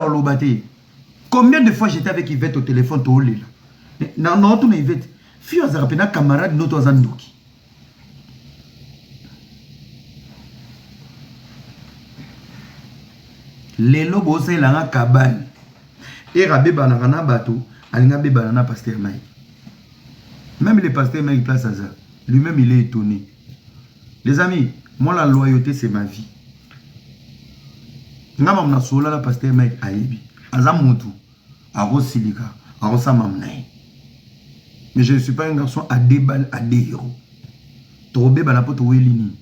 oloba te combien de fois j'étais avec Yvette au téléphone toolela na na otuna Yvette fio azalaka mpe na camarade noto aza ndoki lelo bosalelanga kabane ere abebanaka na bato alingi abebana na paster mike meme le paster mike place aza lui-même il est étonné Les amis, moi la loyauté c'est ma vie. Nga mam na sola la pasteur Mike ayebi. Aza mutu akosilika akosa mam na ye. Mais je ne suis pas un garçon à deux balles à deux héros. Tobeba na poto weli nini?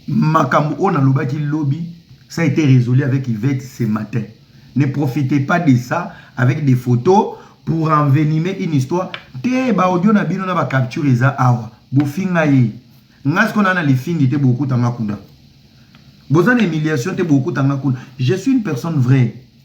makambo oyo nalobaki lobi ça a été résolu avec Yvette ce matin ne profitez pas de ça avec des photos pour envenimer une histoire te ba audio na bino na ba capture eza awa bofinga ye nga siko na na lifingi te bokutanga kuna boza na humiliation te bokutanga kuna je suis une personne vraie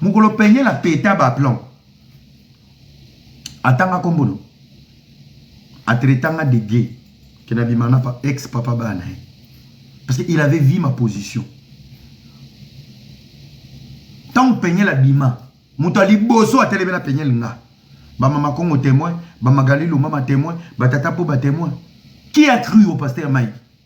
Mokolo peigne na peta ba plan. Atanga kombo no. Atretanga de gay. Que na bima na ex papa bana. Parce qu'il avait vu ma position. Tant peigne la bima. Moto aliboso atelebe na peigne nga. Ba mama Kongo témoin, ba Magali Lumama témoin, ba tata po ba témoin. Qui a cru au pasteur Mike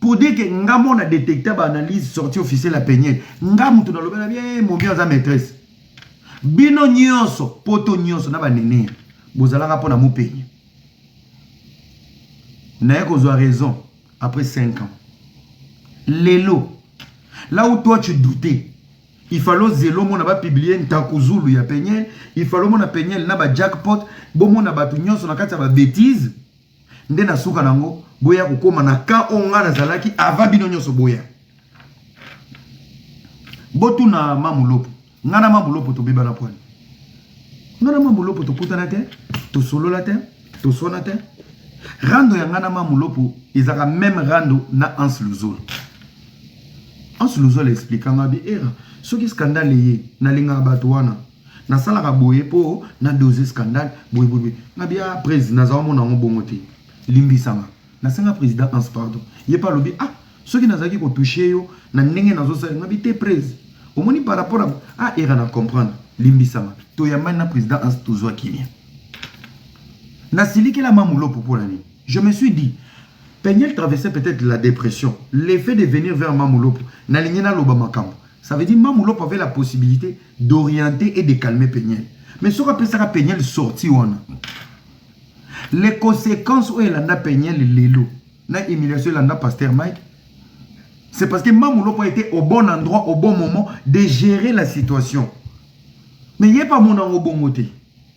pour dire que nga mo na detecta ba analyse sortie officielle ya peniel nga moto nalobela bie eh, mobi aza maîtresse bino nyonso poto nyonso na banene bozalaka mpo na mopenye naye kozwa raison après 5 ans lelo là où toi tu doutais il fallait ozela omona bapublie ntakuzulu ya peniel il fallait omona peniel na bajackpot bomona bato nyonso na kati ya babétise nde na suka na yango boya kokoma na ka oyo ngai nazalaki ava bino nyonso boya botuna mamulopo ngai na mamulopo tobebana pwani ngai na mamulopo tokutana te tosolola te toswana te rando ya ngai na mamulopo ezaka meme rando na anse luzolo anse luzolo explikanga bi era soki skandale eye nalingaka bato wana Na salaka boye po na dose scandal boye boye na bia prez na za omona yango bongo te limbisanga na senga president ans pardon ye pa lobi ah soki na zaki ko touche yo na ndenge na zo sali na bi te prez omoni par rapport a ah era na comprendre limbisanga to yambani na president ans to zwa kimia na silikela ma mulopo po na nini Je me suis dit, Penielle traversait peut-être la depression. Le fait de venir vers Mamu Lopo, nalingi naloba makambo. Ça veut dire Mamu Lopo avait la possibilité d'orienter et de calmer Penielle. Mais soki apesaka Penielle sortie wana, les conséquences oyo elanda Penielle lelo na humiliation elanda Pasteur Mike, c'est parce que Mamu Lopo était au bon endroit, au bon moment de gérer la situation. Mais ye pa mona ngo bongo te.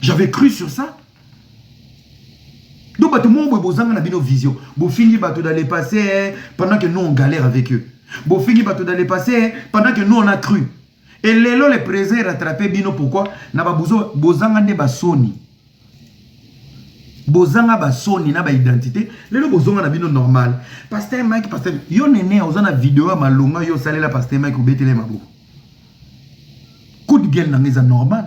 J'avais cru sur ça. Donc, bato moko boye bozanga na bino vision. Bofingi bato dans le passé eh, pendant que nous on galère avec eux. Bofingi bato dans le passé eh, pendant que nous on a cru. Et lelo le présent est rattrapé bino pourquoi na babuzo bozanga nde basoni. Bozanga basoni na ba identité. Lelo bozonga na bino normal. Pasteur Mike, pasteur yo nene oza na vidéo ya malonga yo salela pasteur Mike obetele maboko. Coup de gueule na ngeza normal.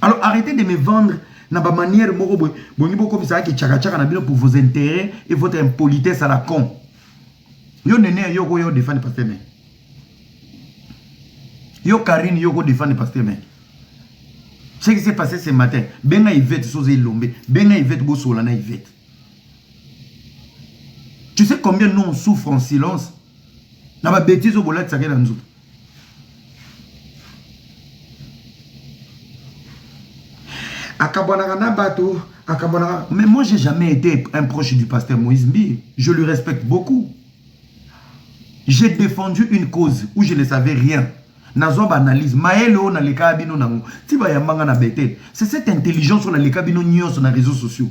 Alors arrêtez de me vendre na ba manière moko boye bolingi bokomisa yaki tshaka tshaka na bino pour vos intérêts et votre impolitesse à la con yo nene yo okoya odefani pasteur meke yo karine yo okodefani pasteur meke ce qui s'est passé ce matin benga ivete soza elombe benga ivete bosola na ivete tu sais combien nous on souffre en silence na babetize oyo bolatisaka ye na nzoto akabwanaka na bato akabwanaka mais moi j'ai jamais été un proche du pasteur moïse mbi je lui respecte beaucoup j'ai défendu une cause où je ne savais rien nazwa baanalyse mayele oyo nalekaka bino nango ti bayambanga na betele c'est cette intelligence oyo naleka bino nyonso na réseaux sociaux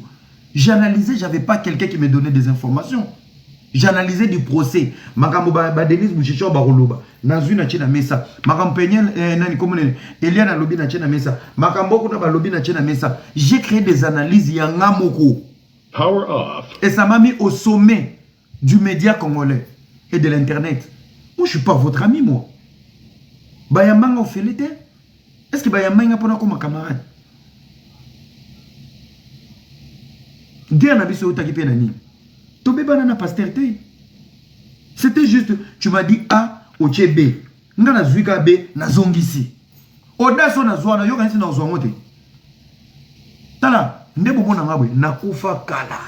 j'analysais j'avais pas quelqu'un qui me donnait des informations j'analyse du procès makambo ba, ba Denise Mushichor bakoloba nazwi na tie na mesa makambo peniel eh, nani kombo nene Eliane alobi na tie na mesa makambo kuna balobi na tie na mesa j'ai créé des analyses ya nga moko power off et ça m'a mis au sommet du média congolais et de l'internet moi je suis pas votre ami moi bayambanga ofele te est ce que bayambaki nga mpo nakoma camarade guerre na biso eutaki mpe na nini tobebana na paster te c'était juste tu m'as dit a otie b nga nazwi ka b nazongisi audace oyo nazwa na yokanisi na ozwa yango te tala nde bomona nga boye nakufa kala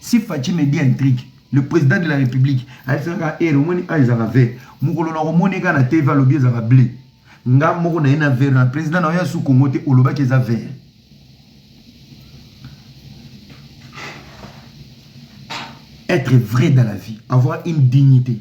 si faci me dit un truc le président de la république ayebisaka ere omoni a ezaka vert mokolo na komoni eka na tv alobi ezaka bleu nga moko na ye na vert na président na yo ya su kongo te olobaki eza vert être vrai dans la vie avoir une dignité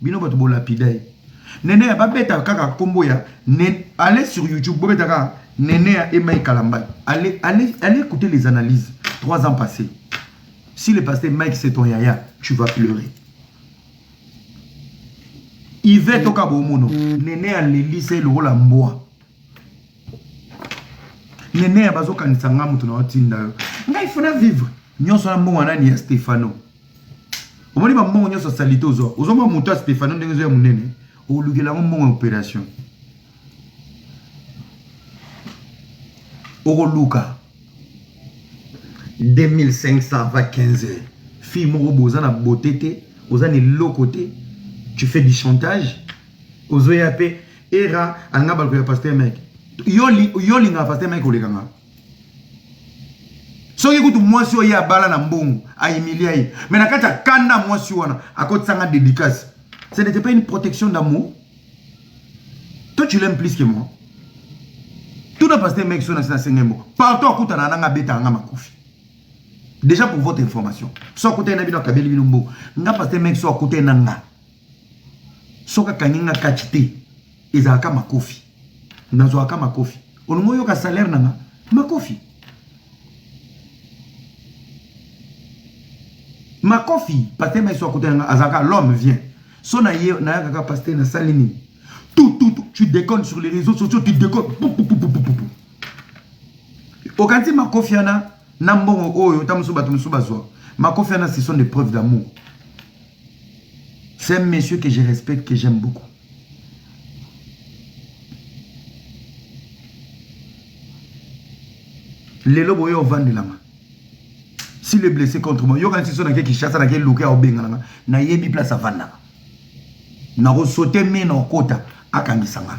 bino bato bo lapida ye nene ya babeta kaka kombo ya allez sur youtube bobeta kaka nene ya emai kalambay allez allez allez écouter les analyses trois ans passés si le pasteur mike c'est ton yaya tu vas pleurer ive toka bomono nene ya lelise lokola mbwa nene ya bazokanisa ngai moto na otinda yo ngai fona vivre nyonso na mbongo nani ya stefano omoni bambongo nyonso ya salite ozwa ozwa mwa moto ya stefano ndenge ezoya monene olukela yango mbongo ya opération okoluka 2500 va 15 fille moko boza na bote te oza na eloko te tu fais du chantage ozoya mpe era alinga baluka ya paster mike yo olingaka paster mike olekanga soki kutu mwasi oyo ye abala na mbongo aimilia ye me na kati ya kanda mwasi wana akotisanga dédicace ce n'était pas une protection d'amour toi tu l'aimes plus que moi tuna paste meki so nasi nasenga mbo partout akutana nanga abetaka nga makofi déjà pour votre information so akutani na bino akabeli bino mbo nga paste meki so akutani na nga soki akangi nga catch te ezalaka makofi nazwaka makofi olingi oyoka salaire nanga makofi makofi paster maiso akutana nga azalaka l'homme vient so na ye nayaka kaka paster nasali nini tout tout tu déconnes sur les réseaux sociaux tu déconnes okanisi makofi wana na mbongo oyo ta mosusu bato mosusu bazwa makofi wana ce sont des preuves d'amour C'est un monsieur que je respecte, que j'aime beaucoup. lelo boye ovandelama si le blessé contre moi yokanisi so nake kinshasa nake luke aobengananga nayebi place avandaka nakosote me na okota akangisa nga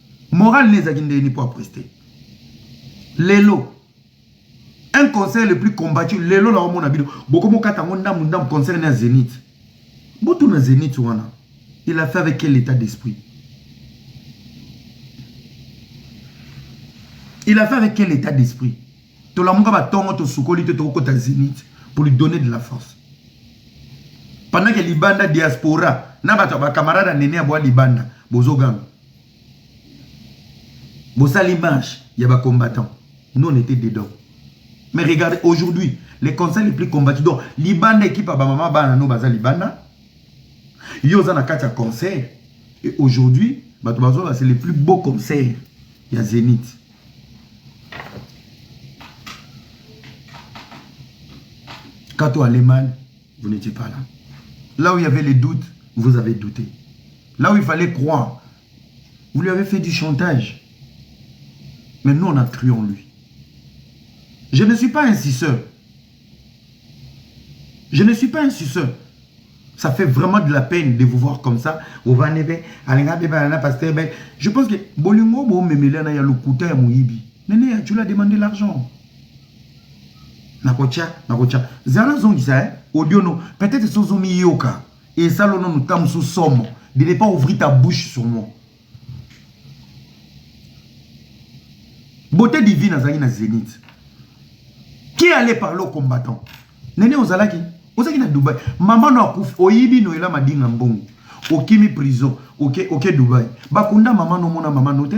Morale ne ezaki ndeni pour prester. Lelo un concert le plus combattu lelo na omona bino bokomo kata ngo ndamu ndamu concert na Zenith. Botu na Zenith wana il a fait avec quel état d'esprit? Il a fait avec quel état d'esprit? Tolamuka ba tongo to sukoli te toko kota Zenith pour lui donner de la force. Pendant que libanda diaspora na bato ba camarade nene ya bwa libanda bozo ganga. bosali marche ya ba combattant nous on était dedans mais regardez aujourd'hui les conseils les plus combattus donc libanda équipe ya bamama bana no baza libanda yo oza na kati ya concert et aujourd'hui bato bazola c'est le plus beau concert ya zenith quand on allait mal vous n'étiez pas là là où il y avait les doutes vous avez douté là où il fallait croire vous lui avez fait du chantage mais nous on a cru en lui je ne suis pas un sisseur je ne suis pas un sisseur ça fait vraiment de la peine de vous voir comme ça ovandi mpe alinga mpe bana na pasteur mpe je pense que bolingo bomemela na ya lokuta ya moyibi nene ya tula demande l'argent nakotya nakotya zala zongisa eh, audio no peut-être so ozomiyoka esala ono nta mosusu somo de ne pas ouvrir ta bouche sur moi beauté divine azalaki na zénith qui allait parler au combattant nene ozalaki ozalaki na dubai mama no akufi oyibi noyela madinga mbongo okimi prison oke okay, okay, dubai bakunda mama nomona mama no te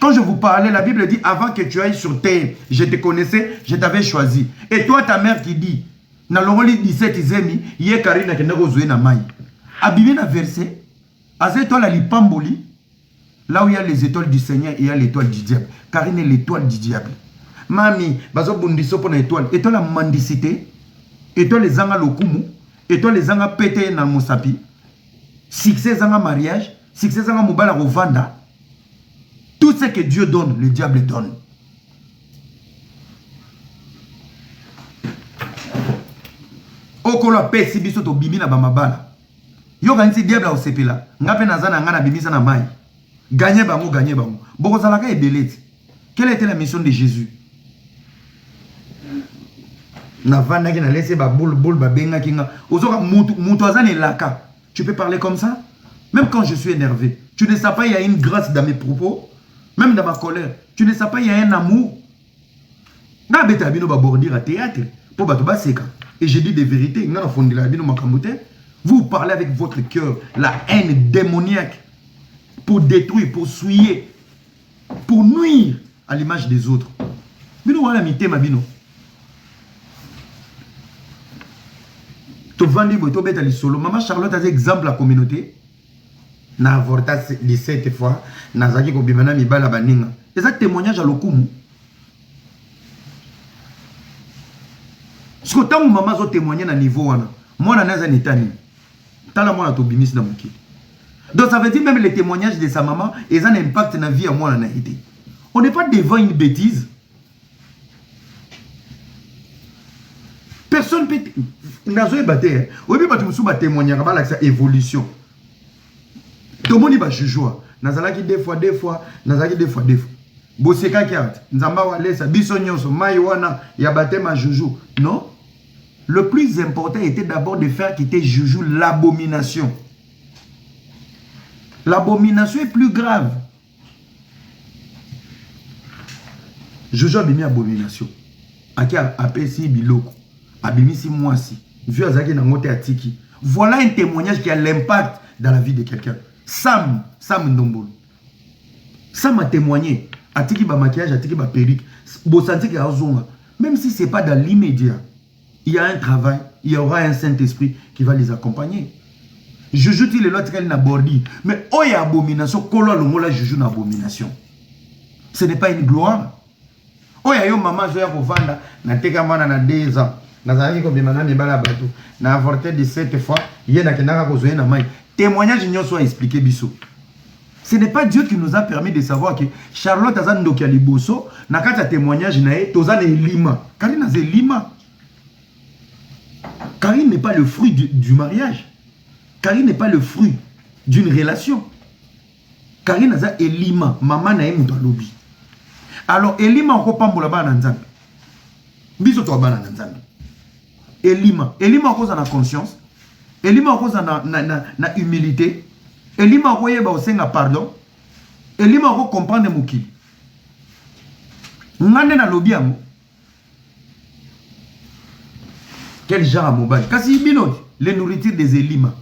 Quand je vous parlais, la Bible dit, avant que tu ailles sur terre, je te connaissais, je t'avais choisi. Et toi, ta mère qui dit, na longoli 17 zemi, ye Karine akenda kozwe na mai. Abimi na verset, aza étoile à l'ipamboli, là où il y a les étoiles du Seigneur, il y a l'étoile du diable. Karine est l'étoile du diable. Mami, bazo bundiso pona étoile. Étoile à mendicité, étoile ezanga lokumu, étoile ezanga pete na mosapi. succès ezanga mariage succès ezanga mobali akovanda tout ce que dieu donne le diable donne okolo apesi biso tobimi na bamabala yokanisi diable akosepela ngai mpe naza na ngai nabimisa na mai Gagner bango, gagner bango. Boko zalaka ebele ti. Quelle était la mission de Jésus? navandaki na laisse ba boule boule ba benga kinga ozoka mutu mutu azana elaka tu peux parler comme ça même quand je suis énervé tu ne sais pas il y a une grâce dans mes propos même dans ma colère tu ne sais pas il y a un amour N'a beta bino ba bordure à théâtre pour bato baseka et je dis des vérités nga na fondela bino makambo te vous parlez avec votre cœur la haine démoniaque pour détruire pour souiller pour nuire à l'image des autres bino wana mitema bino tovandi boye tobeta lisolo mama charlotte aza exemple ya communauté na avorta 17 fois nazalaki kobima na mibala baninga eza témoignage ya lokumu siko ntango mama azo témoigne na niveau wana mwana naye aza na etani tala mwana tobimisi na mokili donc ça veut dire même le témoignage de sa maman eza na impact na vie ya mwana na ye te on n'est pas devant une bêtise personne peut nazoyeba te eh. oyebi bato mosusu batémoignaka balakisa évolution tomoni bajujua nazalaki deux fois deux fois nazalaki deux fois deux fois bosekaki art nzambe awalesa biso nyonso mai wana ya batema juju non le plus important était d'abord de faire quitter juju l'abomination l'abomination est plus grave Jojo abimi abomination ake apesi biloko abimisi mwasi vieux azalaki na yango te atiki voilà un témoignage qui a l'impact dans la vie de quelqu'un sam sam ndombolo sam a témoigné atiki ba maquillage atiki ba perruque bosanziki azonga même si c'est pas dans l'immédiat il y a un travail il y aura un saint esprit qui va les accompagner juju ti lelo atikali na bordi mais oyo ya abomination kolo alongola juju na abomination ce n'est pas une gloire oyo ya yo mama azoya kovanda nateka mwana na 2 ans nazalaki kobima na mibala ya bato na avorte 17 fois ye nakendaka kozwa ye na mai témoignage nyonso aexplike biso Ce n'est pas Dieu qui nous a permis de savoir que Charlotte aza ndoki ya liboso na kati ya témoignage na ye toza na elima. Karine aza elima. Karine n'est pas le fruit du, du mariage. Karine n'est pas le fruit d'une relation. Karine aza elima, mama na ye moto alobi. Alors elima okopambola bana na Nzambe. Biso to bana na Nzambe. elima elima okoza na conscience elima okoza na, na, na, na humilité elima okoyeba osenga pardon elima okocomprendre mokili nga nde nalobi yango quel genre ya mobali kasi bino le nourriture des elima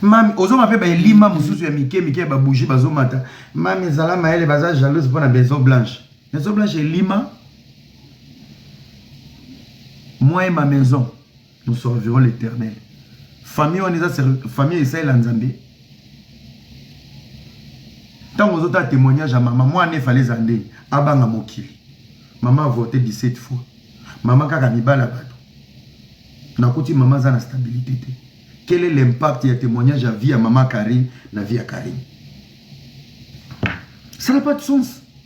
mami ozonga mpe baelima mosusu ya mike mike ya babougie bazomata mami ezala mayele baza jalouse mpo na maison blanche maison blanche elima moi ma maison nous servirons l'éternel famille wana eza famille esalela nzambe ntango ozotala témoignage ya mama mwana efale eza nde abanga mokili mama avote 17 fois mama kaka mibala bato nakuti mama aza na stabilité te quel est l'impact ya témoignage ya vie ya mama karine na vie ya karine ça n'a pas de sens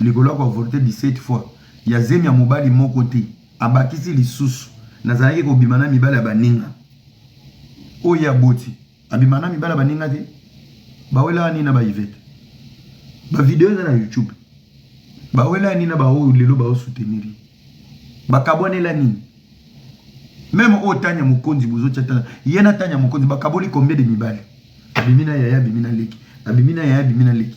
likolo ya koavorte 17 fois ya zemi ya mobali moko te, abakisi lisusu, nazalaki kobima na mibali ya baninga oyo ye aboti. Abima na mibali ya baninga te, bawelaka nini na baivete? Bavideo eza na YouTube, bawelaka nini na baoyo lelo baosoutenir ye? Bakabwanela nini? Meme oyo Tanya Mokonzi bozotya tala ye na Tanya Mokonzi bakaboli combien de mibali? Abimi na yaya, abimi na leki, abimi na yaya, abimi na leki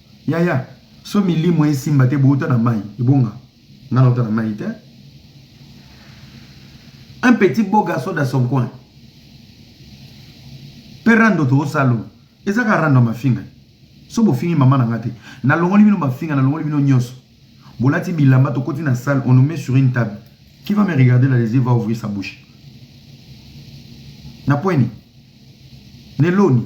Yaya so milimo esimba te bouta na mayi ebonga nga nauta na mayi te un petit beau garçon dans son coin mpe rando toosalo eza kaka rando ya mafinga so bofingi mama na nga te nalongoli bino mafinga nalongoli bino nyonso bolati bilamba tokoti na salle on nous met sur une table qui va me regarder dans les yeux va ouvrir sa bouche na poini neloni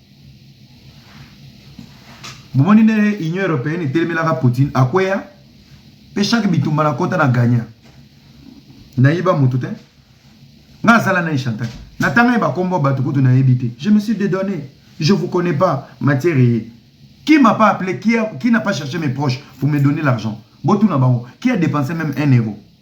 bomoni ndenge union européenne etelemelaka poutine akweya mpe chaque bitumba na kota na gagna nayiba motu te nga asala na echantaki natanga ye bakombo ya bato kutu nayebi te je me suis dedonné je vous connais pas matière eye qui m'a pas appelé qui, a, qui n'a pas cherché mes proches pour me donner l'argent botuna bango qui a dépensé même un euro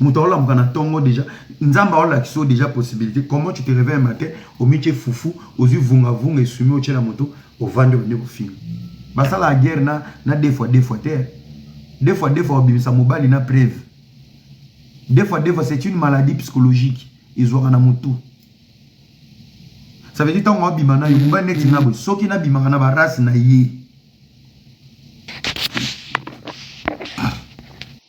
moto aolamuka na tongo deja nzambe aolakisa yo deja possibilité comment tu te réveille matin omitie fufu ozwi vungavunga esumi otyela moto ovandi obandi kofinga basalaka guerre na, na deux fois deux fois te deux fois deux fois obimisa mobali na preuve deux fois deux fois c'est une maladie psychologique ezwaka na motu ça veut dire ntango abima nayo mobali neti nga boye soki nabimaka na barace na ye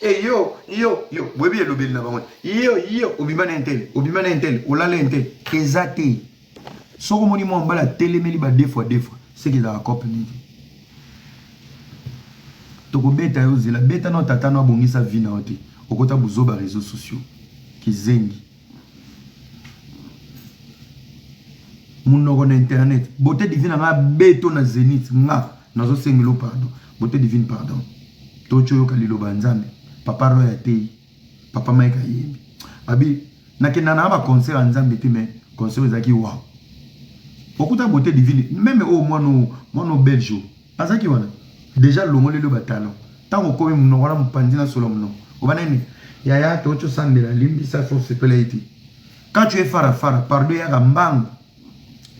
e yo yo yo boyebi elobeli na bango yo yo obima na entele obima na entele olala entele eza te soki omoni mwa mbala atelemeli ba defwa defwa seke ezalaka cope nini tokobeta yo zela beta na tata no abongisa vi na yo te okota buzoba réseaux sociaux kizengi munoko na internet beauté divine anga beto na zenith nga nazosengelo pardon beauté divine pardon tocoyoka liloba ya nzambe papa roy ateyi papa mike ayembi abi nakenda na baconcert ya nzambe te mais concert ezalaki wa okuta beauté divine meme oyo oh, mwana mwana belge Azalaki wana dejà alongoleli yo ba talons tango okomi munoko wana mupanzi na solo ya munoko oba nani yaya toki osambela limbisa soki osepela ye te quand tu es fara fara pardon eyaka mbangu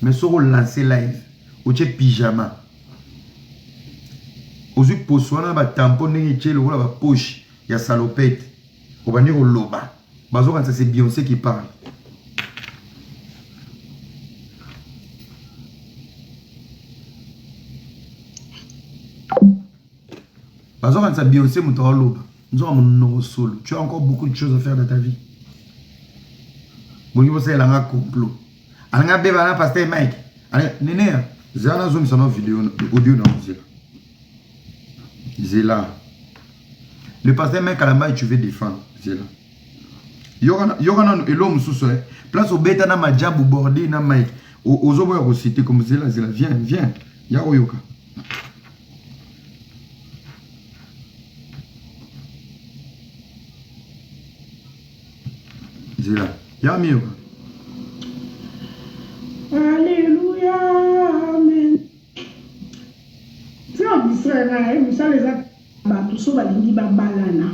mais soki olancer live otie pyjama ozwi poso wana na ba tampon ndenge etie lokola ba poche ya salopette obandi koloba bazokanisa se bionse qui parle bazokanisa bionse moto aoloba nzoka monoko solo tu as encore beaucoup de choses à faire dans ta vie bolingi bosalela nga complot alinga beba na pasteur mike neneya zela nazongisa na video audio na kozela zela le pasteur me kalambay tu veux défendre zela yoka nanu elo mosusu eh. place obeta na majabu borde na mike ozoboya kosite comme zela zela viens viens ya oyoka zela ya miyoka Tika ko distraire nga naye musala eza batu soki balingi babalana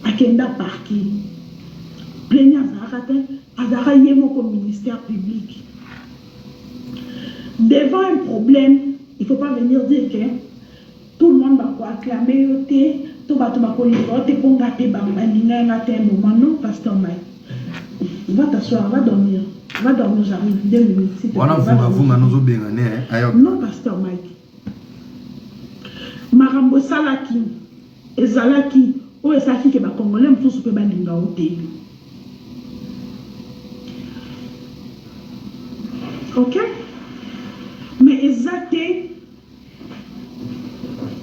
akenda parquet plaignant azalaka te azalaka ye moko ministère public devant un problème il faut pas venir dire que Tout le monde ba ko acclamer yo te to batu ba kolinga yo te po nga pe ba lingaki nga te un moment non pasteur Mike va t'asseoir va dormir va dormir j'arrive deux minutes s'il te Wana plaît va vunga vunga dormir nozo benga ne eh, ayo. non pasteur Mike makambo esalaki ezalaki oyo esalaki ke ba congolais mosusu pe balinga yo te ok mais eza te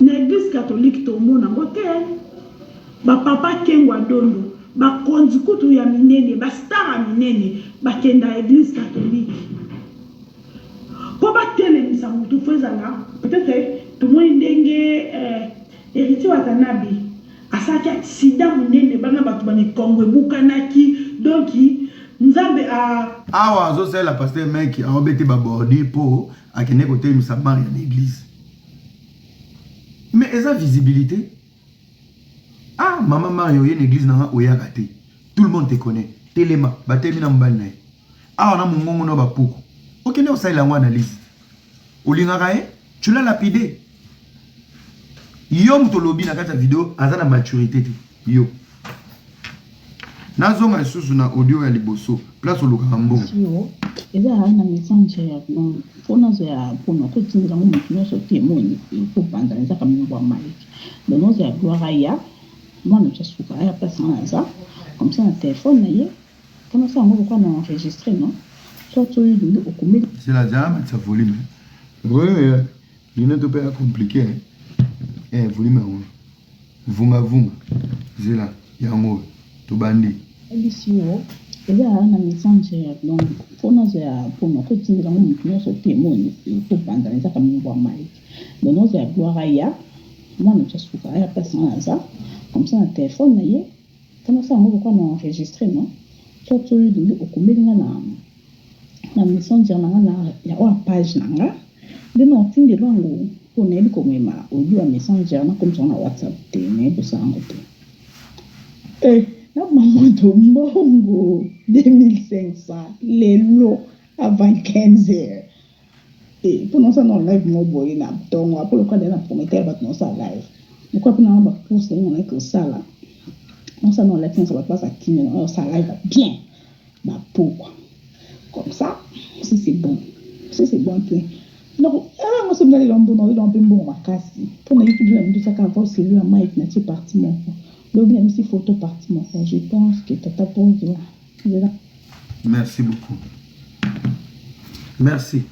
Na eglise catholique tomona ngo te ba papa kengwa dondo ba konzi kutu ya minene ba star ya minene ba kenda eglise catholique po ba telemisa mutu faut ezala peut etre tomoni ndenge heritier watanabe asalaki accident munene bana batu ba mikongo ebukanaki donc nzambe a Awa azo salela pasteur mec aobete ba bordure po akende kotelemisa bar ya na eglise mais eza visibilité ah mama mario oye na eglise nanga oyaka te tout le monde te connaît telema batelemi na mobali na ye awa na mongongo na bapuku okende osalela yango analyse olingaka ye tu l'as lapide yo moto olobi na kati ya video aza na maturité te yo nazonga lisusu na audio ya liboso place olukaka mbongo eza na message ya blanc mpo nazo ya mpona kotindela ngo moto nyonso te moni ekobanda ezaka mimbo ya maliki donc nazo ya gloire aya mwana ja suka aya place nga naza comme ça na telefone na ye mpo nasala yango lokola na enregistre no soit oyo lingi okomeli zela zala matisa volume Luneto pe ya compliqué hein. Eh volume yango. Vunga vunga. Zela yango tobandi. Ebisi yo eza na messenger donc mpo nazwa ya mpo nakotindela yango moto nyonso te moni tobanda na ezaka mingi bwa mai donc nazwa ya gloire aya mwana tya suka aya place wana aza comme ça na telefone na ye Pona osala yango okoka na enregistre no soit soki olingi okomeli nga na na messenger na nga na ya oa page na nga nde na otindelo yango po nayebi komema audio ya messenger na komisa na whatsapp te nayebi kosala yango te eh na mamoto mbongo 2500 lelo avant 15 heures te mpo na osala na live moko boye na ntongo apres lokola deja na promete ya bato na osala live lokola mpo na ba course yango na yeke osala na osala na live nyonso bato baza kimia na osala live ya bien ba pokwa comme ça si c'est bon si c'est bon te donc ewa yango soki ndali lombo na olelwa mpe mbongo makasi mpo na youtube na mbisa kaka voice elu ya mike na tie parti moko lobi na misi photo parti moko je pense que tata bozo merci beaucoup merci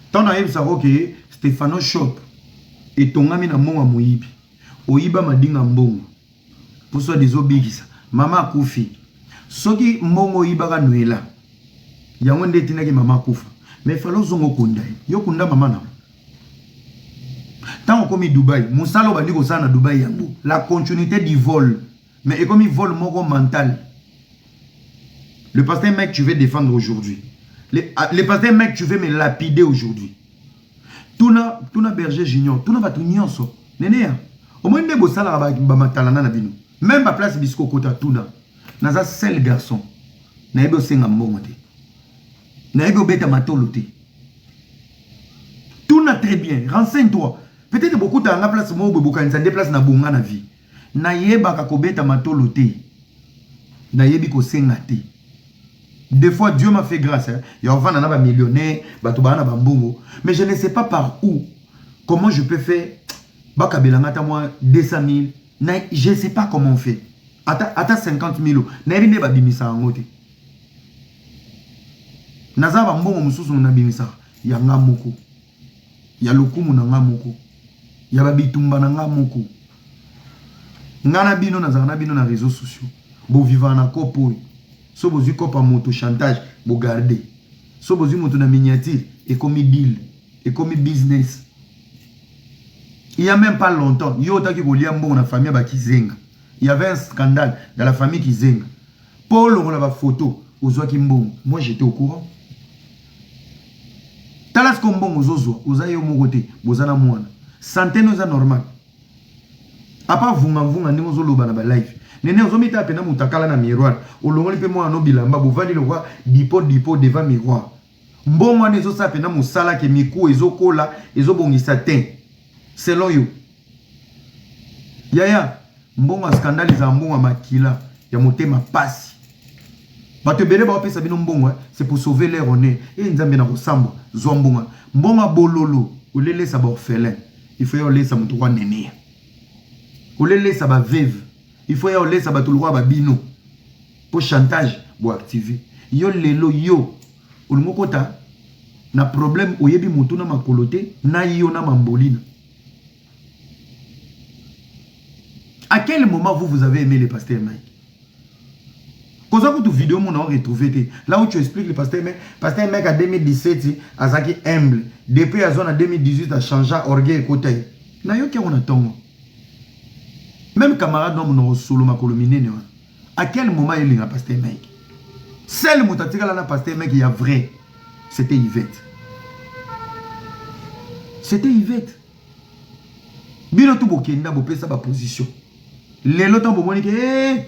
ntango nayebisa oke stefano shop etongami na mbongo ya moyibi oyiba madinga mbongo mposo adiza obikisa mama akufi soki mbongo oyibaka nwela yango nde etindaki mama akufa me fala ozonga okunda ye yo kunda mama na ntango okomi dubai mosala obandi kosala na dubai yango la continuité du vol Mais ekomi vol moko mental. Le pasteur mec tu veux défendre aujourd'hui. Le, ah, le pasteur mec tu veux me lapider aujourd'hui. Tuna tuna berger junior, tuna batu nyonso. Neneya. Omoni nde bosalaka ba, ba matalana na bino. Même ba place bisiko kota tuna. Naza seul garçon. Nayebi osenga mbongo te. Nayebi obeta matolo te. Tuna très bien, renseigne-toi. Peut-être bokutaka nga place moko boye bokanisa nde place na bonga na vie. Nayebaka kobeta matolo te nayebi kosenga te des fois Dieu m'a fait grâce hein, ya kovanda na ba millionnaire bato baa na bambongo mais je ne sais pas par où comment je peux faire bakabela nga ata mwa 200 000 na je sais pas comment on fait ata, ata 50 000 nayebi nde babimisa yango te naza bambongo mosusu nabimisaka yanga moko ya lokumu na ngai moko, ya ba bitumba na ngai moko. Ngai na bino nazalaka na bino na reseaux sociaux, bo vivaka na coop oyo. So bozwi coop ya moto chantage, bo garder. So bozwi moto na miniature, ekomi deal, ekomi business. Il y a même pas longtemps, yo otaki kolia mbongo na famille ya ba Kizenga. Il y avait un scandale dans la famille Kizenga. Po olongola ba photos, ozwaki mbongo. Moi j'étais au courant. tala siko mbongo ozozwa oza yo moko te boza na mwana sante no eza normal apa vungamvunga ndenge ozoloba na balive nene ozomitala mpena moto akala na miroir olongoli mpe mwana no bilamba bovandi lokwa dipo dipo deva miroir mbongo wana ezosala mpena mosala ke miku ezokola ezobongisa te Selon yo yaya mbongo ya scandale ezala mbongo ya makila ya motema pasi bato ebele baopesa bino mbongo eh, c'est pour sauver leur honneur e eh, nzambe na kosambwa zwa mbongo mbongo ya bololo olelesa baorphelin il faut ya olesa moto kwa nene olelesa baveve il faut ya olesa bato lokwa babino mpo chantage boactive yo lelo yo Olingi okota na problème oyebi mutu na makolo te na yo na mambolina à quel moment vous vous avez aimé le pasteur Mike koza kutu video mona o retrouver te là où tu expliques le pasteur Mike pasteur Mike à 2017 azaki humble depuis azwa na 2018 a changea orgueil ekota ye nayoki yango na ntongo meme camarade na monoko solo makolo minene wana à quel moment elinga pasteur Mike seul moto atikala na pasteur Mike ya vrai c'était Yvette c'était Yvette bino tu bokenda bopesa baposition lelo ntango bomoni ke hey! Eh,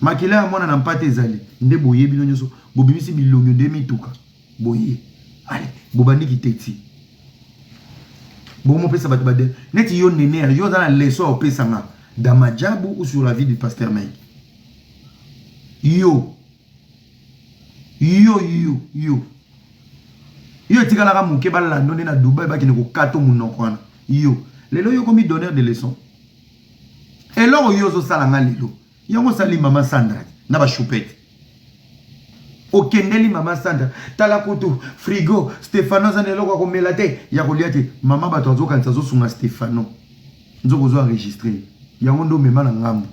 makila ya mwana na mpate ezali nde boye bino nyonso bobimisi bilongi nde mituka boye ale bobandi kiteti bomopesa bato bade neti yo nener yo oza na leso ya kopesa nga dans majabu ou sur la vie du pasteur mike yo yo yo yo yo etikalaka moke balando nde na dubai bakende kokato monoko wana yo lelo yo komi donneur de leçon eloko yo ozosala nga lelo yango osali mama sandra na bashupete okendeli mama sandra tala kutu frigo stefano aza na eloko ya komela te ya kolia te mama bato azokanisa azosunga stefano nzoko ozo enregistre yango nde omema na ngambo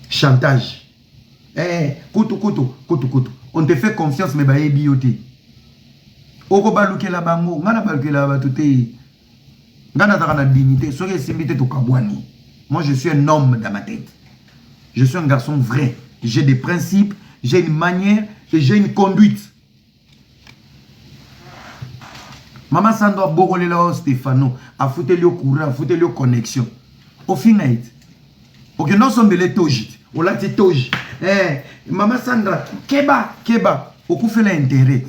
chantage eh, kutu kutu kutu kutu on te fait confiance me bayebi yo te okobalukela bango ngai nabalukela bato te nga nazalaka na dignité soki esimbi te tokabwani moi je suis un homme dans ma tête je suis un garçon vrai j'ai des principes j'ai une manière et j'ai une conduite mama sando abokolela yo stefano afuteli yo courant afuteli yo connexion ofinga ete okenda osombela etoji te olati etoji eh, mama sandra keba keba okufela interet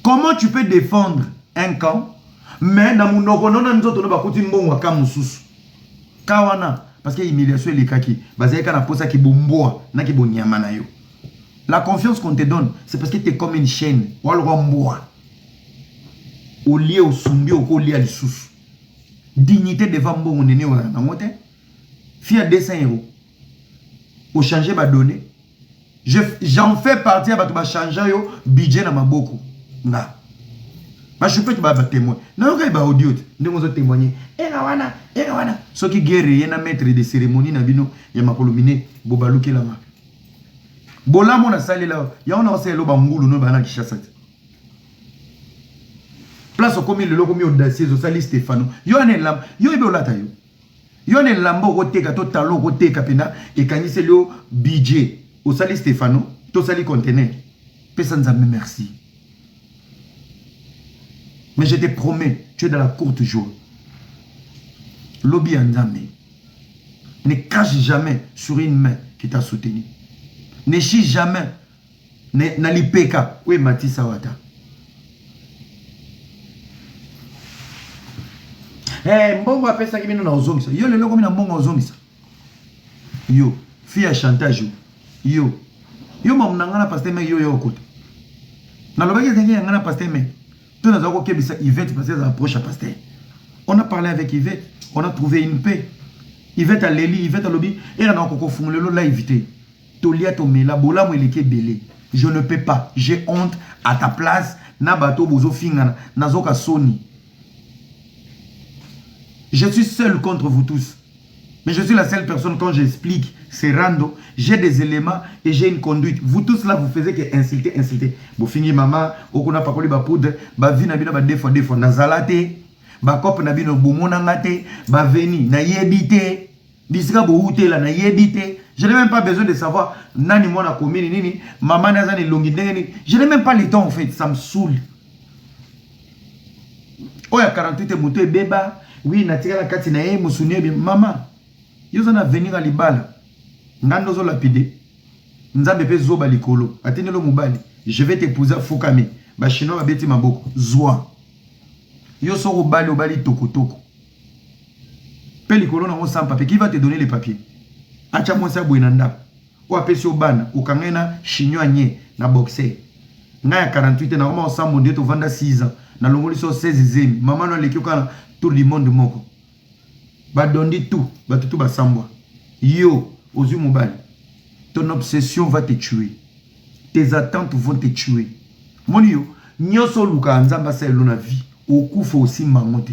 Comment tu peux defendre un camp mais na munoko no na nzoto no bakuti mbongo ya camp mosusu ka wana parce que humiliation elekaki bazali kaka na posa ki bomboa na ki bonyama na yo la confiance qu'on te donne c'est parce que t'es comme une chaîne walwa mbwa olie osumbi okolia lisusu dignité devant mbongo nene oyo nango te fia 200 euros ochange badonne j'en fais partie ya bato bachangea yo budget na maboko nga bashupete ba batemoin nayokai baaudio te ndenge ozo témoigne ena wana ena wana soki guerre ye na maître de cérémonie na bino ya makolo mine bobalukelanga bolamu nasalela yango nakosalela yo bangulu no bana kishasa te place okomi lelo okomi audacieux osali stefano yo wana elamu yo ebe olata yo Yo na elamba okoteka to talo okoteka mpena ekangiseli yo bidje osali Stefano tosali contener pesa nzambe merci mais je te promets tu es dans la courte jour lobi ya nzambe ne crache jamais sur une main qui t'a soutenu ne chie jamais mais na lipeka oyo ematisa wata hey, eh, mbongo apesaki bino na ozongisa yo lelo okomi na mbongo ozongisa yo fi ya chantage yo yo mamu na ngai na paster mei yo ya okota nalobaki ezenge ya ngai na paster mei to naza kokebisa ivete parce ezala proche ya paster on a parlé avec ivete on a trouvé une paix ivete aleli ivete alobi era na kokofungolelo live te Tolia tomela bolamu eleki ebele je ne peux pas j'ai honte à ta place na batu oyo bozo fingana nazoka soni je suis seul contre vous tous mais je suis la seule personne quand j'explique c'est rando j'ai des éléments et j'ai une conduite vous tous là vous faisiez que insulter insulter bofingi mama okuna pakoli ba poudre ba vie na bino ba defo defo nazala te ba cop na bino bomona nga te ba veni nayebi te bisika bowutela nayebi te je n'ai même pas besoin de savoir nani mwana komini nini mama ni aza na elongi ndenge nini je n'ai même pas le temps en fait ça me saoule oyo ya 48 moto ebeba wi natikala kati na ye mosuni ebe mama yo oza na avenir ya libala ngai nde ozolapide nzambe mpe zoba likolo atindelo mobali je vais t'épouser afukami bachinois babeti maboko zwa yo soko obali obali tokotoko mpe likolo na yango sans papier qui va te donner les papiers atya mwasi ya boye na ndako oyo apesi yo bana okanga ye na chignon anie na boxer ngai ya 48 na koma osambo nde tovanda 6 ans nalongoli so 16 zemi mama no aleki yo kaka na tour du monde moko badondi tu bato tu basambwa yo ozwi mobali ton obsession va te tuer tes attentes vont te tuer moni yo nyonso olukaka nzambe asala elo na vie okufa osimba yango te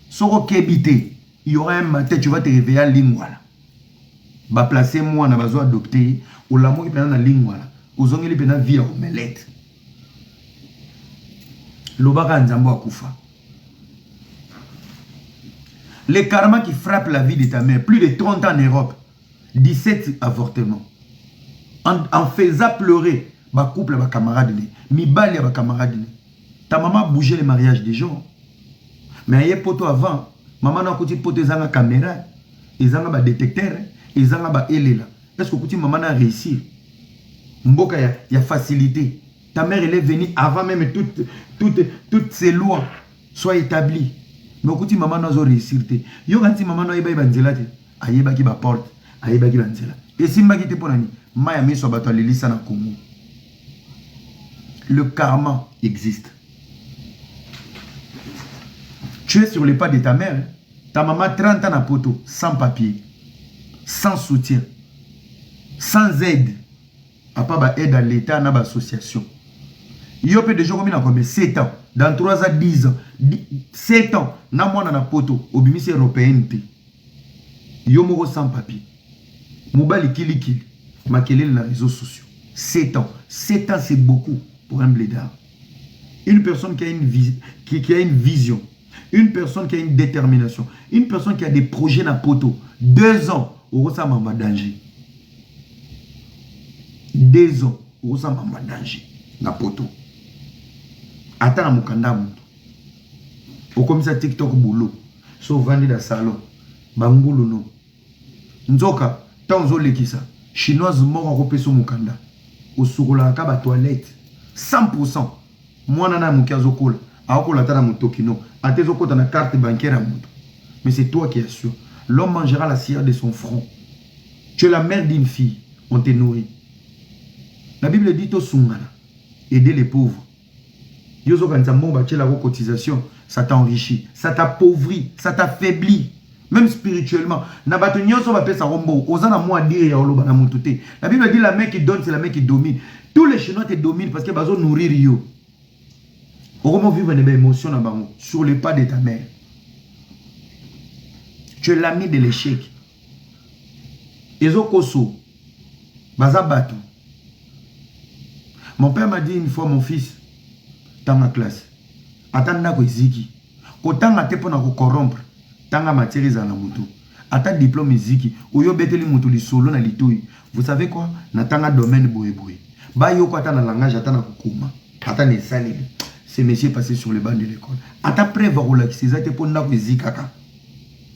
soki okebi te il y aura un matin tu vas te réveiller à lingwala baplace mwana bazo adopte ye olamuki mpena na lingwala ozongeli mpena vie ya omelete lobaka nzambe akufa le karma qui frappe la vie de ta mère plus de 30 ans en europe 17 avortement en, en faisant pleurer bacouple ya bacamarade ne mibali ya bacamarade ne Ta maman a bouge le mariage de Jean mais aye poto avant maman na akuti poto ezanga camera ezanga ba detecteur ezanga ba elela est ce que okuti maman na réussir mboka ya, ya facilité ta mère elle est venue avant même toutes toutes toutes ces lois soient établies mais okuti maman na azo réussir te yo kanti maman na ayebaki banzela te ayebaki ba porte ayebaki banzela esimbaki te mpo na nini mai ya miso ya bato alelisa na kongo le karma existe tu es sur les pas de ta mère ta maman 30 ans na poto sans papier sans soutien sans aide apa ba aide à l'état na ba association yo mpe deja okomi na kombe 7 ans dans 3 ans 10 ans 7 ans na mwana na poto obimisi européenne te Yo moko sans papier mobali kili kili makelele na reseaux sociaux sept ans sept ans c'est beaucoup pour un bledard une personne qui a une vie qui, qui a une vision une personne qui a une détermination une personne qui a des projets na poto deux ans okosala mamba danger deux ans okosala mamba danger na poto ata na mokanda ya moto okomisa tiktok boulot soki ovandi na salon ba ngulunu nzoka ntango ozolekisa chinoise moko akopesa yo mokanda osokolaka kaka ba toilette 100 pourcent mwana na moke azokola akokola ata na motokino ata ezokota na carte bancaire ya moto mais c'est toi qui assure l'homme mangera la cire de son front tu es la mère d'une fille on te nourrit la bible dit tosungana aider les pauvres Yo ozokanisa mbongo batiela ko cotisation ça t'enrichit ça t'appauvrit ça t'affaiblit même spirituellement na bato nyonso bapesa ko mbongo oza na mwa dire ya oloba na mutu te la bible dit la main qui donne c'est la main qui domine tous les chinois te dominent parce que bazo nourrir yo okomo vivre na ba émotion na bango sur le pas de ta mère tu es l'ami de l'échec ezokoso baza batu mon père m'a dit une fois mon fils tanga classe ata ndako eziki kotanga te mpona kocorompre tanga matière ezala na motu ata diplome eziki oyo obeteli motu lisolo na litoi vous savez quoi natanga domaine boyeboye bayoko ata na langage ata na kokoma ata na esaleli ce monsieur passé sur le banc de l'école ata preuve akolakisa eza te mpo ndako ezikaka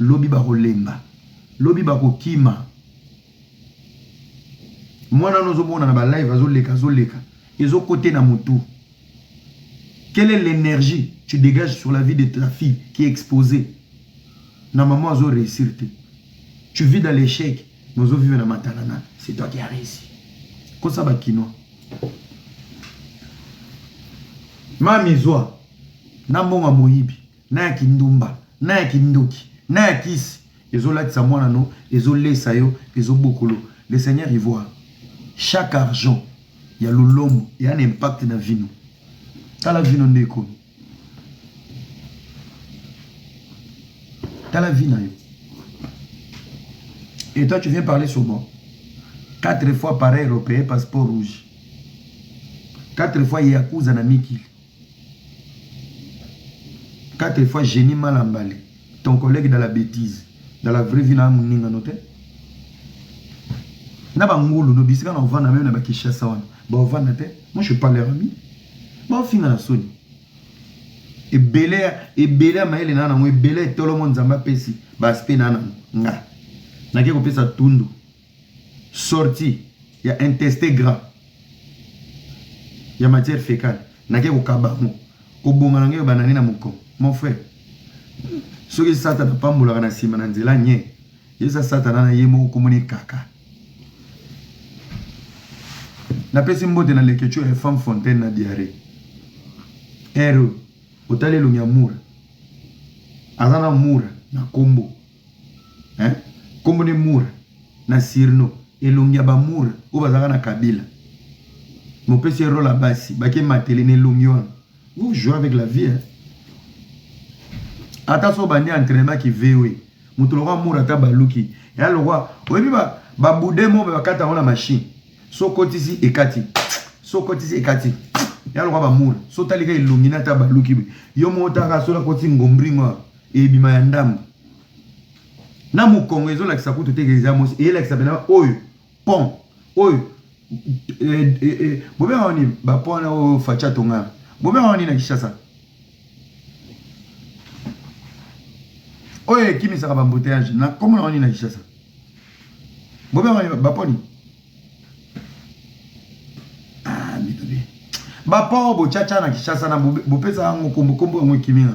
Lobi bakolemba, lobi bakokima. Mwana wana ozomona na ba live azoleka azoleka ezokote na mutu. Quelle est l'energie tu degages sur la vie de ta fille qui est exposée na maman azo réussir te. Tu vis dans l'échec mais ozo vivre na matalana. C'est toi qui as réussi. Kosa ba kinois. Mami zwa na mbongo moyibi. na ya kindumba na ya kindoki na ya kisi ezo latisa mwana no ezo lesa yo ezo bokolo le seigneur il voit chaque argent ya lolombo ya na impact na vino tala vino nde ekomi tala vie na yo et toi tu viens parler sur moi quatre fois pareil européen passeport rouge quatre fois yakuza na mikili 4 fois Genie Malambale, ton collègue dans la bêtise, dans la vraie vie na muninga no te. Na ba ngulu no bisika na ovanda meme na ba Kinshasa wana. Ba ovanda te. Moi je parle ami. Ba finga na soni. Ebele ebele mayele na nango ebele tolo mo nzamba pesi ba aspect na nango. Nga. Na ke ko pesa tundu. sorti ya inteste gras ya matière fecale nake kokaba yango kobonga na ngai ebanda nde na mokongo mon frère soki satana apambolaka na nsima na nzela nye yesa satana na ye moko komoni kaka napesi mbote na leketio ya femme fontaine na diare ero otali elongi ya mura aza na mura na nkombo hein kombo ne mura na sirno elongi ya ba mura oyo bazalaka na kabila mopesi ye role ya basi bake matele na elongi wana vous jouez avec la vie hein? ata so bandi entraînement ki voe moto lokwa mura ata baluki ya lokwa oyebi ba babude mo mpe bakata yango na mashine so kotisi ekati so kotisi ekati yaloka bamura so talika elongi na ata baluki yo moko taka soki akoti ngombringo Ebima ya ndambu na mukongo ezolakisa kutu te eza mosi eyelakisa pena oyo pont oyo eh, eh, eh, bobenga wani bapont wana oyo facha tongana bobenga wani na kishasa oyo ekimisaka bambouteyage na kombo na wani na kishasa bobenga wani baponi ah, bapont oyo bochacha na kishasa na bopesa yango kombo kombo yango ekimina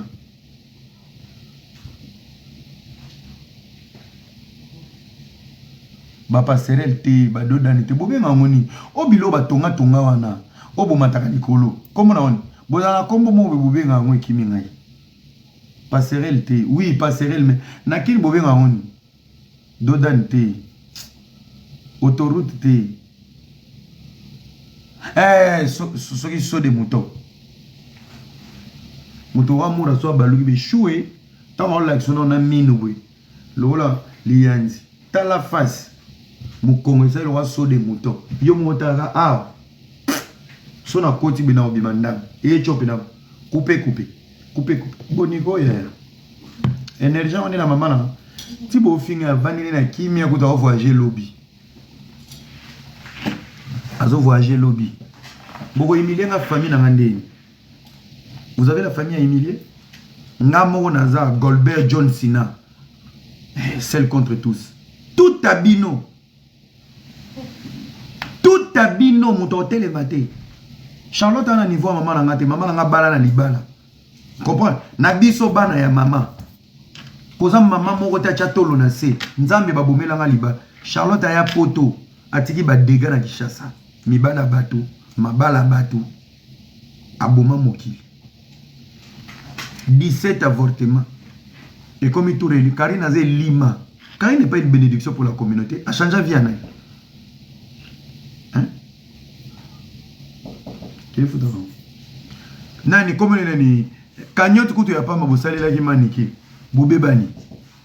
ba passerelle te ba dodani te bobenga yango nini o bilo batonga tonga wana o bomataka likolo kombo na wani bozala na kombo moko bobenga yango ekimi ngai passerelle te oui passerelle mais na kini bobenga yango nini Dodane te. Autoroute te. Eh, so, so, soki so de mouton. Moto wa mura so abaluki be choue. Ntango aolakisa na na mino boye. Lokola liyanzi. Tala face. Mokongo esali lokola so de mouton. Yo moko talaka awa. Ah, so nakoti be na obima ndambo. Eye cope na kupe kupe. coupe coupe boniko ya energie yango nde na mama na ti bofinga avandi nde na kimia kutu aovoyage lobi azovoyage lobi bokohumilie nga famille na nga ndeni vous avez la famille ya humilie nga moko naza golbert john sina eh, seul contre tous tout abino tuta bino moto akotelema te charlotte ana niveau ya mama na nga te mama na nga bala na libala comprendre na biso bana ya mama koza mama moko te atya tolo na se nzambe babomela nga libala charlotte aya poto atiki badega na kishasa mibala bato mabala bato aboma mokili 17 avortement ekomi tour eli karine aza elima karine epai une bénédiction pour la communauté achangea vie ya nani nani komona nani cagnote kutu ya pamba bosalelaki manike bobebani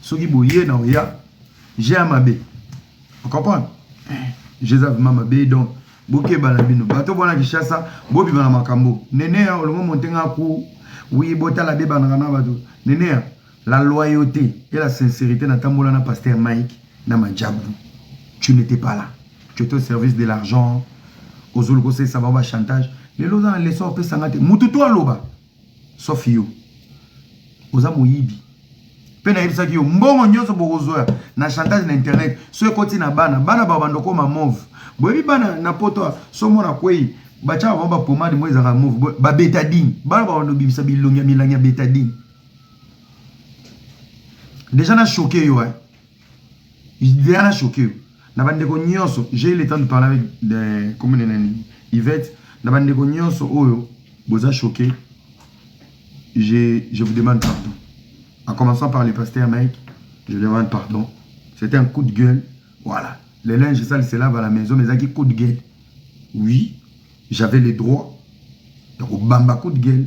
soki boye na oya je ya mabe ocomprendre je eza vraimen mabe donc bokeba na bino bato bwana kishasa bobima na makambo neneya olongo montenga ku wi botala bebanaka na bato neneya la loyauté et la sincérité natambola na paster mike na majabu tu n'étais pas là tu étais au service de l'argent ozoluka osalisa bango bachantage lelo oza na leson opesanga te motu to aloba sauf yo oza moyibi mpe nayebisaki yo mbongo nyonso bokozwa na chantage na internet so ekoti na bana bana bao bandokoma move boyebi bana na poto so mona kwei batyaka bango bapomade mo ezalaka move babetadine bana bao bandobimisa bilongi ya milangi ya betadine deja na choke yo eh? Diana choqué na bandeko nyonso j'ai eu le temps de parler avec de commune na nini Yvette na bandeko nyonso oyo boza choqué je, je vous demande pardon en commençant par le pasteur Mike je demande pardon c'était un coup de gueule voilà le linge sale se lave à la maison mais ezalaki coup de gueule oui j'avais le droit ya kobamba coup de gueule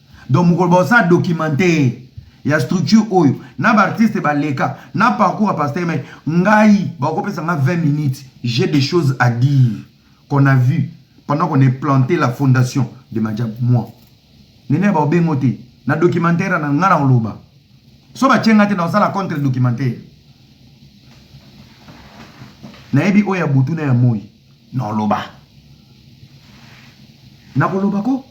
donc mokolo baosala documentaire ya structure oyo na baartiste baleka na parcours ya pasteur mai ngai bakopesa nga 20 minutes j'ai des choses à dire qu'on a vu pendant qu'on est planté la fondation de majab moi nene baobengo te na documentaire na nga na koloba so batye nga te na kosala contre documentaire nayebi oyo ya butu na ya moi Non loba. Nakoloba ko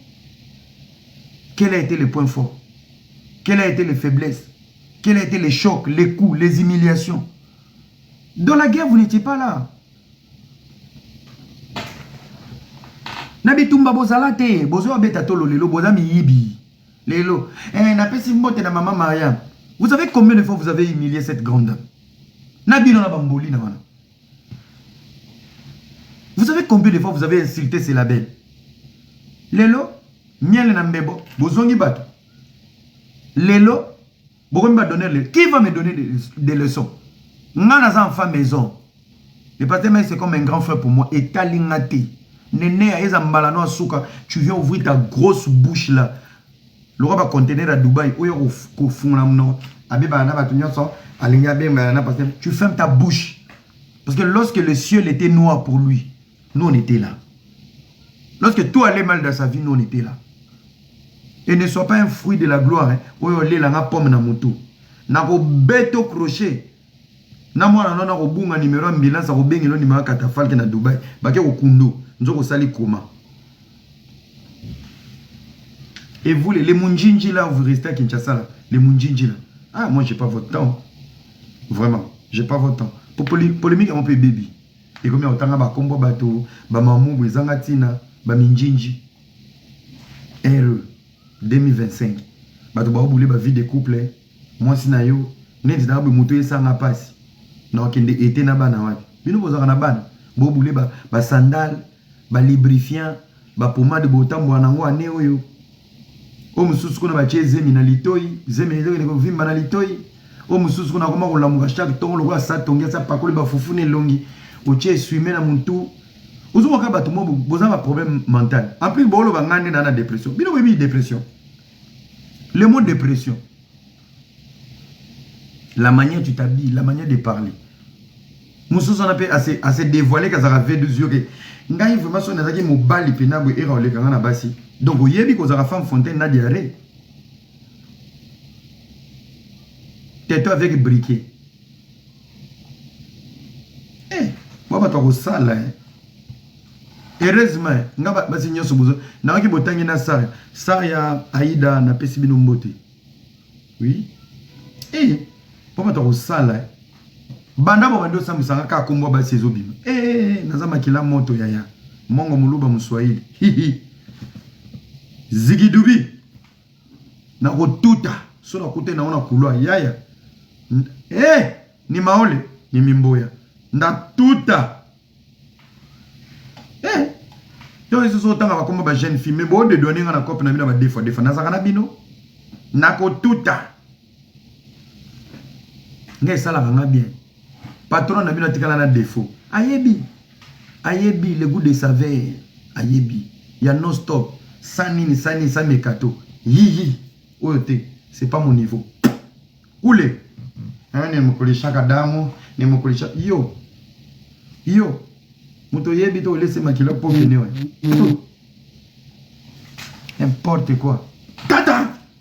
quel a été le point fort? Quel a été le faiblesse? Quel a été le choc, les coups, les humiliations? Dans la guerre, vous n'étiez pas là. na bitumba bozala te bozo abeta tolo lelo boza miyibi lelo eh, napesi mbote na mama mariam vous savez combien de fois vous avez humilié cette grande dame na bino na bamboli na wana Vous savez combien de fois vous avez insulté ce label Lelo, miel na mbebo, bozongi bato. Lelo, bokomi ba donner le... Qui va me donner des, des leçons Nga naza enfant maison. Le pasteur Maïs c'est comme un grand frère pour moi. Et Talingate. Nene, eza mbala noa suka. Tu viens ouvrir ta grosse bouche là. Lokola ba conteneur ya Dubaï oyo ko fungola munoko abebaka na batu nionso alingi abengana na pasteur tu ferme ta bouche parce que lorsque le ciel était noir pour lui nous on était là lorsque tout allait mal dans sa vie nous on était là et ne sois pas un fruit de la gloire hein, oyo olela nga pomme na mutu na ko beto crochet na mwana no nako bunga numero ambulance ako bengi no numero katafalke na Dubai bake ko kundu nzoko sali koma et vous les munjinji là vous restez à Kinshasa là les munjinji là ah moi j'ai pas votre temps vraiment j'ai pas votre temps pour polémique on peut baby et comme on tanga ba combo bato ba mamu bwezanga tina ba minjinji RE 2025 bato ba boule ba vie de couple Mwasi na yo neti nanga boye moto esanga pasi na okende ete na bana wapi bino bozaka na bana bo bule ba, ba sandale ba librifiant ba pomade botambwa nango ane oyo o mosusu kuna batie zemi na litoi zemi na litoi kovimba na litoi o mosusu kuna akoma kolamuka chaque tongo lokola sa tongi asa pakoli bafufu na elongi otie eswime na motu ozomoka bato mo boza ba problème mental en plus booloba ngai nde naa na depression bino boyebi depression Le mot depression, la manière tu t'habilles, la manière de parler. mosusu wana mpe ase devoile ke azalaka v12 yo ke ngai vraiment soki nazalaki mobali mpena boye era oleka ngai na basi donc oyebi kozalaka femme fontaine na diarrhee teto avec briquet eh, mwa bato akosala eh. heureusement nga basi nyonso bozo nayoki botangi na sar sar ya aida napesi bino mbote oui eh, mpo bato akosala eh. banda bobandi osambisanga kaka kombo ya basi ezobima e eh, eh, eh, naza makila moto yaya mongo moluba moswahili zigidubi nakotuta so nakutani na yango na couloir yaya hey, ni maole ni mimboya ndatuta hey. to lisusu otanga bakombo ba jeune fille me boodedwane nga na cope na bino ba defa defa nazalaka na bino nakotuta nga esalaka nga bien patron na bino atikala na defaut ayebi Ayebi le gout de saveur ayebi ya non stop sans nini sans nini sans mekato hi hi oyo te c'est pas mon niveau kule hein ne mokole shaka damo ne mokole shaka yo yo moto oyebi to olese makila po mene n'importe quoi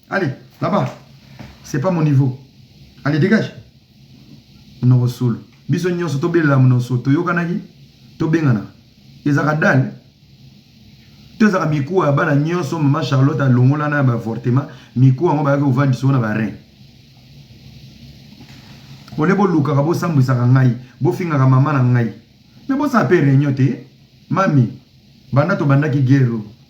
Allez, là-bas. C'est pas mon niveau. Allez, dégage. Monoko solo. Biso nyonso tobelela monoko solo. Toyokanaki, tobengana. Ezaka dale. tozaka mikuwa ya bana nyonso mama charlotte alongolana ya baavortement mikuwa yango bayaki kovandisa oyo na barin ole bolukaka bosambwisaka ngai bofingaka mama na ngai me bosala mpe réunion te mami banda tobandaki guerre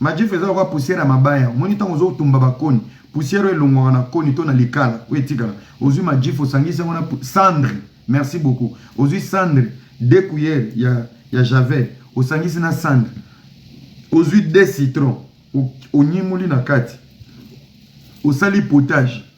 Majifu eza lokola poussière ya mabaya. Omoni ntango ozotumba bakoni, poussière oyo elongwaka na koni to na likala oyo etikala. Ozwi majifu, osangisi yango na cendre, merci beaucoup, ozwi cendre deux cuillères ya, ya javel, osangisi na cendre, ozwi deux citrons, onyemoli na kati, osali potage.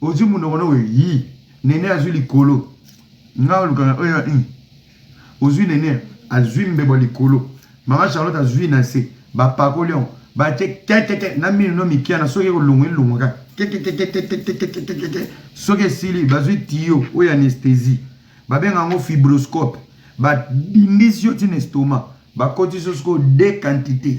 ozwi munoko noko yi nene azwi likolo nga olukaka oyo ya ini ozwi nene azwi mbebo likolo mama charlotte azwi na se bapakoli yango batie kekeke na mino no mikia na soki ekolongwa elongwa kaka kekekekekekekekekeke soki esili bazwi tiyo oyo anesthésie babenga yango fibroscope badindisi yo ntina estoma bakotisi yo sikoyo de quantité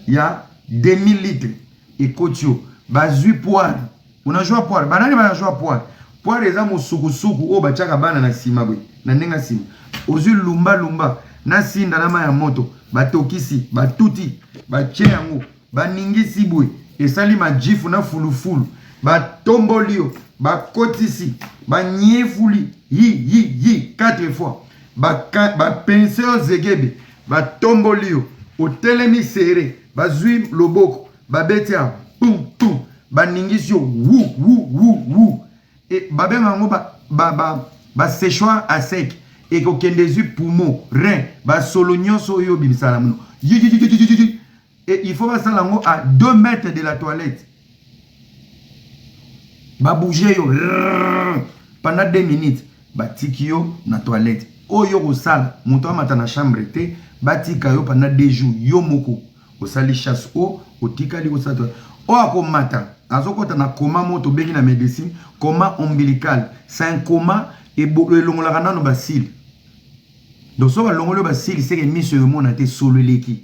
ya demi litre ekoti yo bazui poire unajua poire banani banajua poire poire eza mosukusuku oyo batiaka bana na sima boye na ndenge ya sima ozui lumba lumba na sinda na mai ya moto batokisi batuti batie yango baningisi boye esali majifu na fulufulu batomboli yo bakotisi banyefuli yi yi yi 4 fois bapense yo zegebe batomboli yo otelemi sere bazwi loboko babeti ya pum pum baningisi yo wu wu wu wu e, babenga yango ba, ba, ba, ba séchoir à sec ekokende ezwi poumon rein basolo nyonso oyo obimisa na mono et il faut basala yango à 2 mètres de la toilette babouge yo pendant 2 minutes batiki yo na toilette oyo okosala moto amata na chambre te batika yo pendant 2 jours yo moko osali chasse o otikali kosala toilette oyo akomata azokɔta na koma moko tobengi na médecine koma ombilical c'est un koma elongolaka nano basile donc soki balongoli yo basile seke miso emona te solo eleki